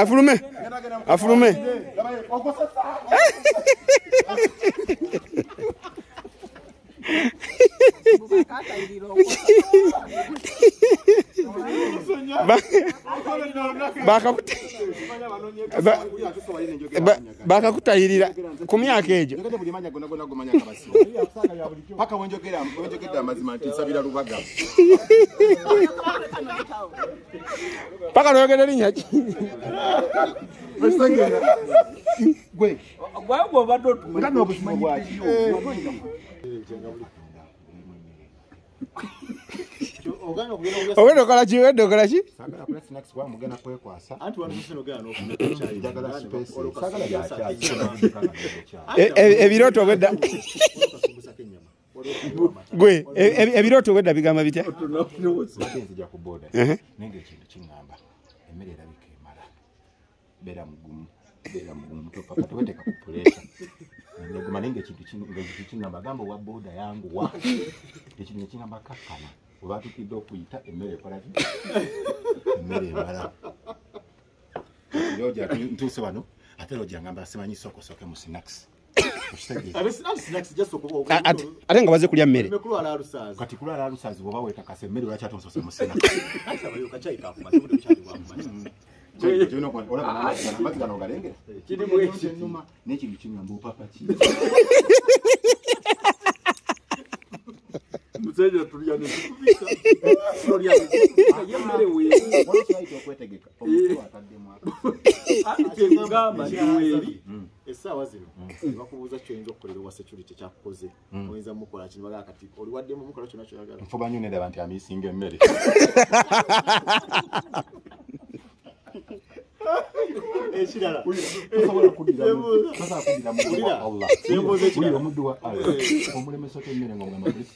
afulume afulume Ba- bakakuta ba- ba- bakakutayirira ku myaka egyo paka noyogera erinya ki ogenda okola ki ogenda okola ki ebirooto obwedda gwe ebirooto obwedda bigamba bitya bera mugumu bera mugumu topapa teweteka ku pulesa neguma naye ngaekintu kingamba gamba owa boda yangu wa ekintu nekingamba kakkana obatukidde okuyita emmere ekolaki emmere emala ntuuse wano ate lojangamba simanyi sokosoke mu sinakisi ate nga baze kulya mmere kati kulwala alusazi bwoba wetakasa emmere olakyatonsosa musina okwetegeka esaawa zino bakubuuza kyoyinza okukolera owa security kyakukoze hmm. oyinza mukola kino bagaa kati oliwaddemu mukola kyona kyoyagala nfuba nyo nedaba nti amisinga emmere ekirala omuddu wa allah omulemesa temere nga omugamba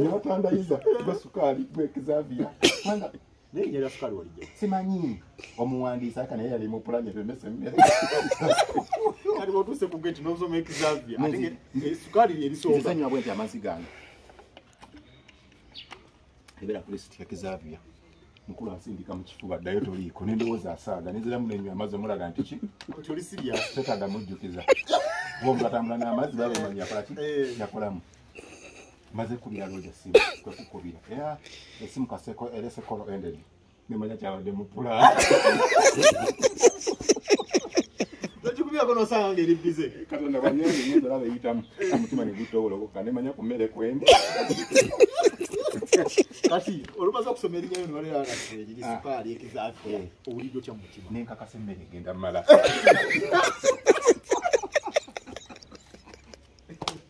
nebatandayiza gwe sukaali gwe kizavia naye yali asukaali walijja simanyi omuwandiisi aka naye yali mupulani ebemesa emmere kati watuuse ku geti nosoma ekizavia ate sukaali yerisooka sanywa bwenti amazzi gange ebera kule sitika kizavia mukulu asindika mu kifuba addayo toliiko nendowooza asaaga nenziramu nenywa amazzi omulaga nti ki toli sirya tetadda mujjukiza bombi batambula n'amazzi baba bamanya akola ki eh. yakolamu maze kubira looja simu kwekukubira era esimu kaseko era esekolo endedi nemanya kyabadde mupula nosanga ngeri bize katonda banyaaaba eyitamu omutima negutowolokoka nemanya ku mmere kwendi kati olumaze okusoma erinyayo newaleraasupaali ekizafe owuliddo kya mutima nenkakasa emmere egenda mumala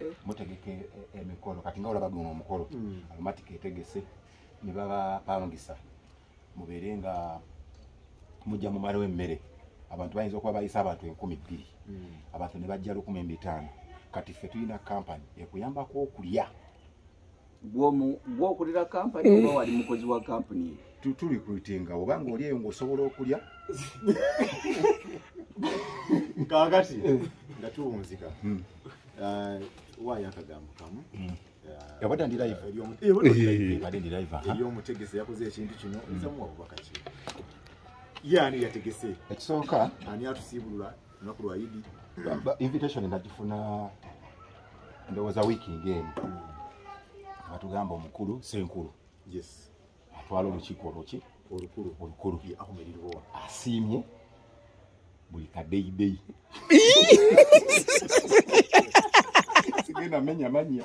eh. mutegeka e, e, emikolo kati nga olaba guno omukolo hmm. alumatika etegese ne babapangisa mubeere nga mujja mumalawo emmere abantu bayinza okuba bayisa abantu enkumi bbiri hmm. abantu ne bajja lukumi embitaano kati ffe tulina kampani ekuyambako okulya gwokulira kampani oba eh. wali mukozi wa kampuni tulikrutinga oba nga oli eyo ngaosobola okulya kakati eh. nga tuwunzika hmm. eh, waayo akagambo kamu hmm. yabadde ndi live yabadde ndi live eri omutegesi yakoze ekintu kino nzamuwa bubaka ki ye ani yategese ekisooka ani atusiibulula lunaku lwa idi invitation nagifuna ndowooza wiiki ngaemu batugamba omukulu senkulu yes atwala olukiiko oluki olukulu olukulu asiimye buli kadeyideyi sigenda menya manya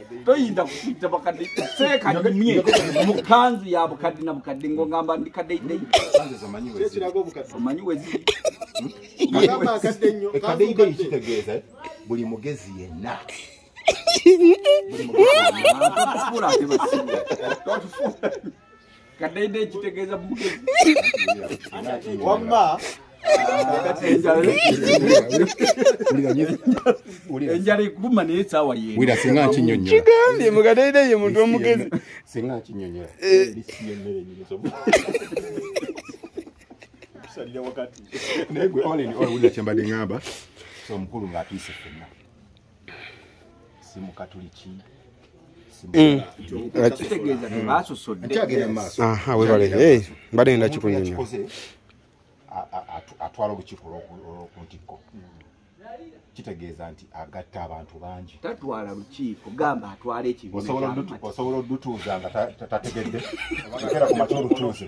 toyinza kukuyita bakadde seeka nyumye mu kanzu ya bukadde na bukadde ng'ogamba ndi kadeidei omanyi weziri kadeidei kitegeeza buli mugezi yenna kadaidai kitegeeza mugezi wamma enjala ekuluma naye saawa yewira singa nkinyonyolakigambye mukadaida ye muntu omugezi singa nkinyonyola eh. naye gwe olin olwulira kyembadde ngamba omukulu ngaatuyise fenna si mukatuliki mm. mbadde nda kikunyumya atwala olukiiko lwokuntikko kitegeeza nti agatta abantu bangi tatwala lukiiko gamba atwala ekibiina osobola odutuuza nga tategedde era ku mata olutuuze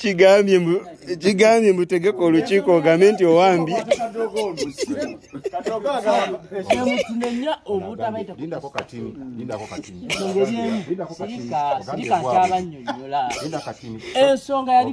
kigambye mbu kigambye mbu tegeka olukiiko ogambe nti owambye ensonga yali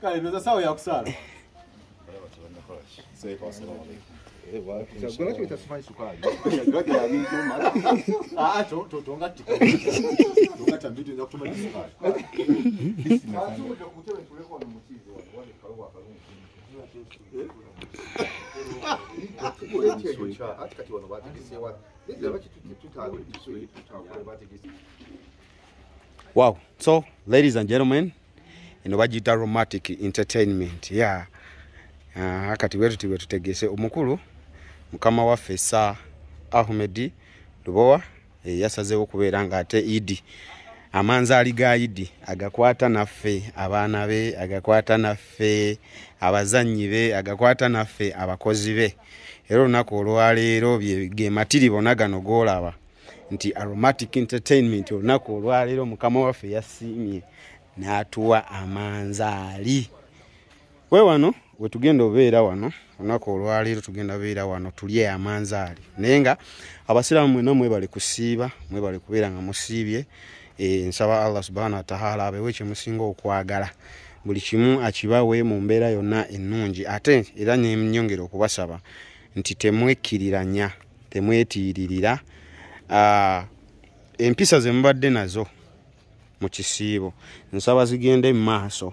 kale noza sawa yakusala Wow. So, ladies and gentlemen, eno bagiyita romantic entertainment ya yeah. uh, kati bwe tuti bwe tutegese omukulu mukama waffe sa ahmedi lubowa eh, yasazeewo kubeera nga ate idi amanzaali ga idi agakwata naffe abaana be agakwata naffe abazannyi be agakwata naffe abakozi be era olunaku olwaleero ge matiri bona gano golaba nti aromatic entertainment olunaku olwaleero mukama waffe yasiimye n'atuwa amanzaali we wano wetugenda obeera wano olunaku olwaleero tugenda beera wano tulye amanzaali naye nga abasiraamu mwena mwebale kusiiba mwebale kubeera nga musiibye e, nsaba allah subhana watahala abewo ekyemusinga okwagala buli kimu akibawe mu mbeera yonna ennungi ate era nenyongera okubasaba nti temwekiriranya temwetiiririra ah, empisa zemubadde nazo mu kisiibo nsaba zigende mu maaso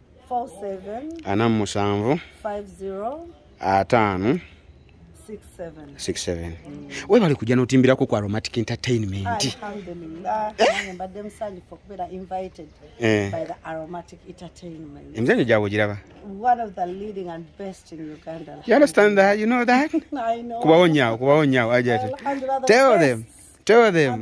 ana mu musanvu ataano webale kujja notimbirako ku aromatic entertainment eh? eh. emizanyo gyabwe ogiraba kubawo nyawo kubawo nyawo ajat tell them tell them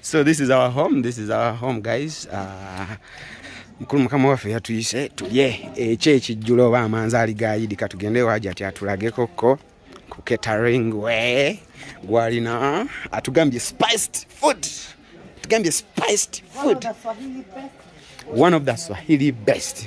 so this is our home this is our home guys uh, mukulu mukama waffe yatuyise tulye ekyo ekijjula oba amanzaali gayidi katugende waja ti atulageko ko ku catering we gwalina atugambye spiced food atugambye spiced food one of the swahili best, one of the swahili best.